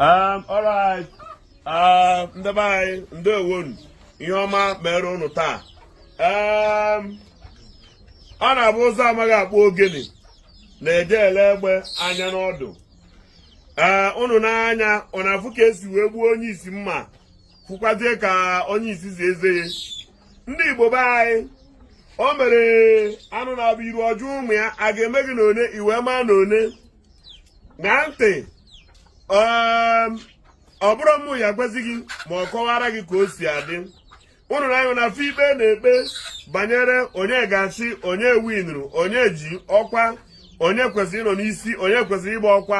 Um, alright um, ndị be anyị ndewonu ihe ọma mere ụnụ taa um, ọ na-abụ ụzụ amaghị akpụ ogene na-eje ele egbe anya n'ọdụ ee uh, ụnụ n'anya ọ na-afụ ka e si wee gbuo onye isi mma fụkwazie ka onye isi zi eze ya ndị Igbo be anyị o mere anụ na-abụ iru ọjọọ ụmụ ya a ga-eme gị na one i wee maa na one ṅaa ntị um, ọ bụrọ mụ ya-agwazi gị ma ọ kọwara gị ka o si adị ụnụ na-anụ na-afụ ikpe a na-ekpe banyere onye ga-achị onye winru onye ji ọkwa onye kwesịrị ịnọ n'isi onye kwesịrị ịgba ọkwa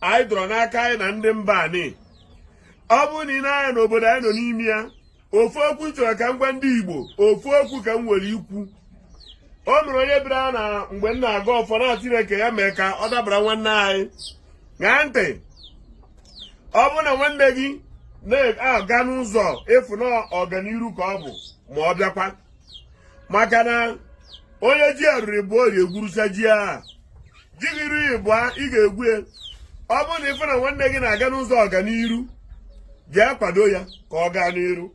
anyị dọrọ n'aka anyị na ndị mba anyị ọ bụrụ na ị na-anya n'obodo anyị nọ n'ime ya ofu okwu m chọrọ ka m gwa ndị Igbo ofu okwu ka m nwere ikwu o nwere onye bịara na mgbe m na-agọ ọfọ na Chineke ya-eme ka ọ dabara nwanne anyị ṅaa ntị ọ bụrụ na nwanne gị na-aga n'ụzọ ị fụ na ọganiru ka ọ bụ ma ọ bịakwa maka na onye ji arịrị bụ orie gwurucha ji aha ji gị iri ịbụa ị ga-egwu ya ọ bụrụ na ị fụ na nwanne gị na-aga n'ụzọ ọganiru jee kwado ya ka ọ gaa n'iru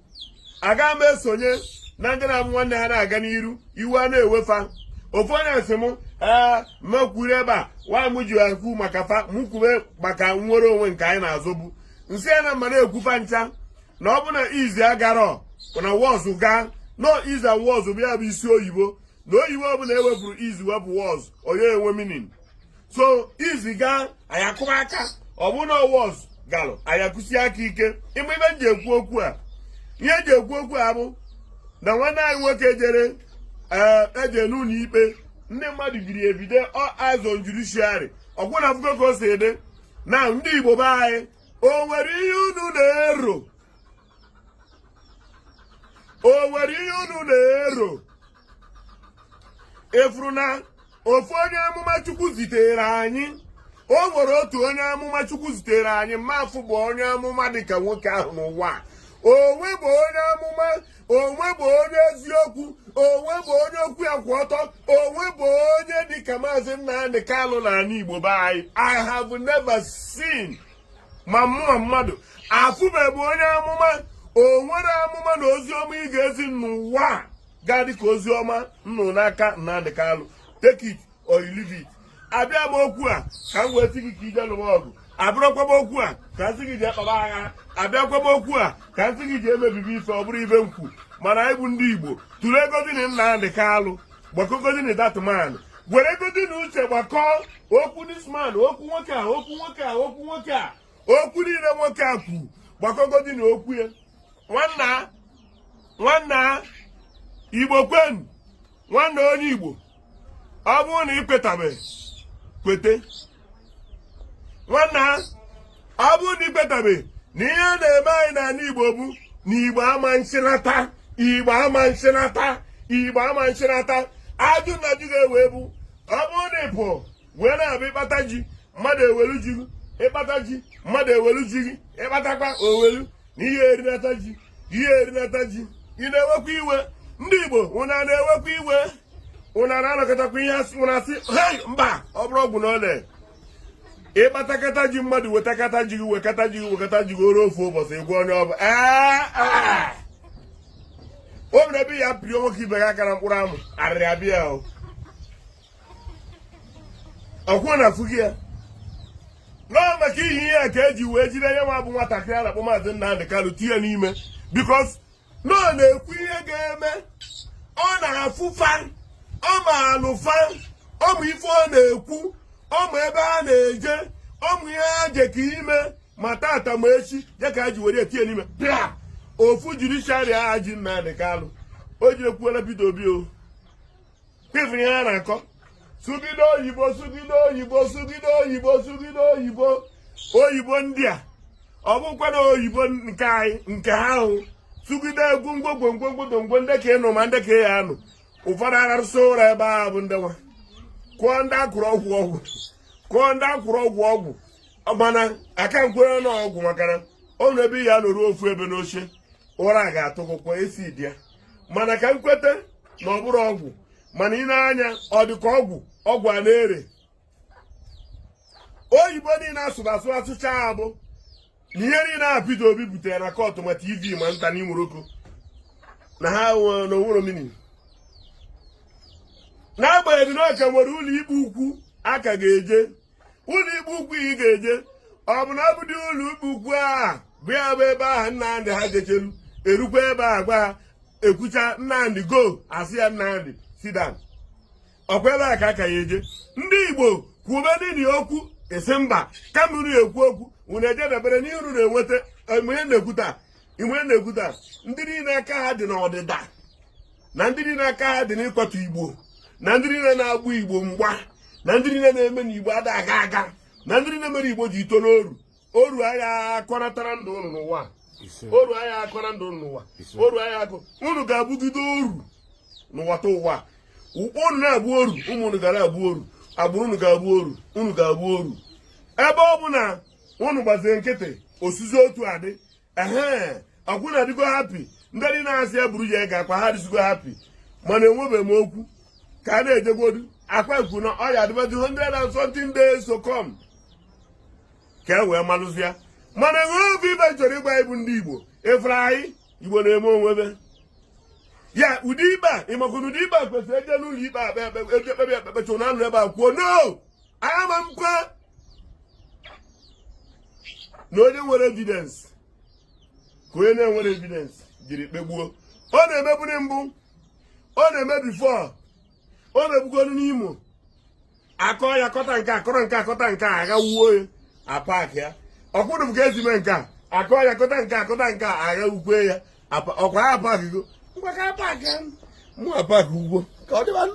aga m esonye na ndị na-abụ nwanne ha na-aga n'iru iwe a na-ewe fa ofu onye sị m ee mekwuru ebe a nwaanyị m ji ekwu maka fa mụ kwube maka nnwere onwe nke anyị na-azọbu m sị ya na m na-ekwu fa ncha na ọ bụ na is agarọ na was gaa no is and was bụ ya bụ isi oyibo na oyibo ọbụla e wepụrụ is wepụ was ọ ya-enwe meaning so is gaa anyị akụba aka ọ bụ na was galụ anyị akụsi aka ike ị ma ihe m ji ekwu okwu a ihe m ji ekwu okwu a bụ na nwanne anyị nwoke jere ee eje n'ụlọ ikpe ndị mmadụ biri ebido ọ azọ judiciary ọgwụ na afụgo ka o si adị na ndị igbo be anyị o nwere ihe unu na-ero o nwere ihe unu na-ero ị fụrụ na ofu onye amụma chukwu zitere anyị o nwere otu onye amụma chukwu zitere anyị m afụbu onye amụma dịka nwoke ahụ n'ụwa o nwebu onye amụma o nwebu onye eziokwu o nwebu onye okwu ya kwụ ọtọ o nwebu onye dịka maazị Nnamdi Kanu na ala Igbo be anyị I have never seen ma mmụọ ma mmadụ afụbeghị onye amụma o nwere amụma na ozi ọma ị ga-ezi n'ụwa ga-adị ka ozi ọma m nụ n'aka Nnamdi Kanu take it or you leave it abịa m okwu a ka m wee sị gị ka i je lụwa ọgụ abịarọkwa m okwu a ka m sị gị jee kpaba agha abịakwa m okwu a ka m sị gị jee mebibe ife ọ bụrọ ife m kwu mana anyị bụ ndị igbo tụleegodi na Nnamdi Kalụ gbakọgodi na that man weregodi na uche gbakọọ okwu this man okwu nwoke a okwu nwoke a okwu nwoke a okwu niile nwoke a kwu gbakọgodi na okwu ya nwanna nwanna igbo kwenu nwanna onye igbo ọ bụrụ na ị kwetabeghị kwete nwanna ọ bụrụ na ị kwetabeghị na ihe na-eme anyị n'ala Igbo bụ na Igbo ama nchịnata Igbo ama nchịnata Igbo ama nchịnata ajụ na ajụ ga-ewe bụ ọ bụrụ na ị pụọ wee na-abụ ị kpata ji mmadụ ewelu ji gị ị kpata ji mmadụ ewelu ji gị ị kpatakwa ewelu na ihe erinata ji ihe erinata ji ị na-ewekwa iwe ndị Igbo unu na-ewekwa iwe unu na-anọkatakwa ihe asị unu asị hei mba ọ bụrụ ọgwụ na ole ị kpatakata ji mmadụ wetakata ji gị wekata ji gị wekata ji gị o ruo ofu ụbọchị ị gwa onye ọ bụ o mere ebe ya pịrị nwoke ibe gị aka na mkpụrụ amụ arịrị abịa o ọkwụọ na afụ gị ya nọọ maka ihe ihe a ka e ji wee jide ya nwa bụ nwatakịrị a na-akpọ maazị Nnamdị Kalụ tinye n'ime because na ọ na-ekwu ihe ga-eme ọ na-afụ fa ọ maalụ fa ọ ma ife ọ na-ekwu ọ ma ebe ha na-eje ọ ma ihe a je ka ime ma tata ma echi ya ka e ji were tinye n'ime bịa ofu judiciary a ji Nnamdị Kalụ o jidekwala Peter Obi o kwefere ihe a na-akọ sụgide oyibo sụgide oyibo sụgide oyibo sụgide oyibo oyibo ndị a ọ bụkwa na oyibo nke anyị nke ha ahụ sụgide egwu ngwogwongwongwodongwo ndị ka ịnụ ma ndị ka ya anụ ụfọdụ ararụsị ụra ebe ahụ bụ ndị nwa kụọ ndị akwụrụ ọgwụ ọgwụ kụọ ndị akwụrụ ọgwụ ọgwụ mana aka m kwere na ọgwụ maka na ọ nọ ebe ya nọruo ofu ebe n'oche ụra ga-atụgụkwa ezi dị ya mana ka m kweta na ọ bụrọ ọgwụ mana ị nee anya ọ dị ka ọgwụ ọgwụ a na-ere oyibo niile a sụrụ asụ a sụchaa bụ na ihe niile a Peter Obi butere na court ma TV ma nta na Imoroko na ha na o nwerọ meaning n'agbanyeghị na ọ ka nwere ụlọ ikpe ukwu a ka ga-eje ụlọ ikpe ukwu ị ga-eje ọ bụ na ọ bụ ụdị ụlọ ikpe ukwu a bụ ya bụ ebe ahụ nnamdị ha jechelu e rukwa ebe a gwa ekwucha nnamdị go a sị ya nnamdị sit down ọkwa ebe a ka a ka ya-eje ndị igbo kwube nini okwu esi mba kama unu ekwu okwu unu ejedebere n'ihe unu na-enweta mgbe na-ekwuta mgbe na-ekwuta ndị niile aka ha dị n'ọdịda na ndị niile aka ha dị n'ịkwatu igbo na ndị niile na-agba igbo mgba na ndị niile na-eme na igbo ada aga aga na ndị niile mere igbo ji tọ n'oru oru agha akọnatara ndụ ụnụ n'ụwa oru agha akọ na ndụ ụnụ n'ụwa oru agha akọ ụnụ ga-abụgide oru n'ụwatụwa ụkpọ ụnụ na-abụ oru ụmụ ụnụ ga-abụ oru agbụrụ ụnụ ga-abụ oru ụnụ ga-abụ oru ebe ọ bụ na ụnụ gbazie nkịtị o sizi otu a dị ehe ọkwa ụnụ adịgo happy ndị dị na-asị ya buru ya ego ọkwa ha dịzigo happy mana enwebeghị m okwu ka a na-ejegodu ọkwa ekwu na ọ ya adịbazi 120 days to come ka e wee malụzi ya mana enwe obi ibe chọrọ ịgwa ịbụ ndị igbo efere anyị igbo na-eme onwebe ya ụdị ikpe a ị makwa na ụdị ikpe a kwesịrị eje n'ụlọ ikpe akpe ekpe eje ekpebe ekpekpe chụ na anụ ebe a kwuo no ama ekwe na onye nwere evidence ka onye na-enwerọ evidence jiri kpegbuo ọ na-emeburi mbụ ọ na-eme before ọ na-emebugodu n'imo akọ ya kọta nke akọrọ nke akọta nke a agha wuo ya apak ya ọkwụrụ m ka esi mee nke a akọ ya kọta nke akọta nke a agha ukwe ya ọkwa ya apak go ngwa ka apak ya mụ apak ugbo ka ọ dịbanụ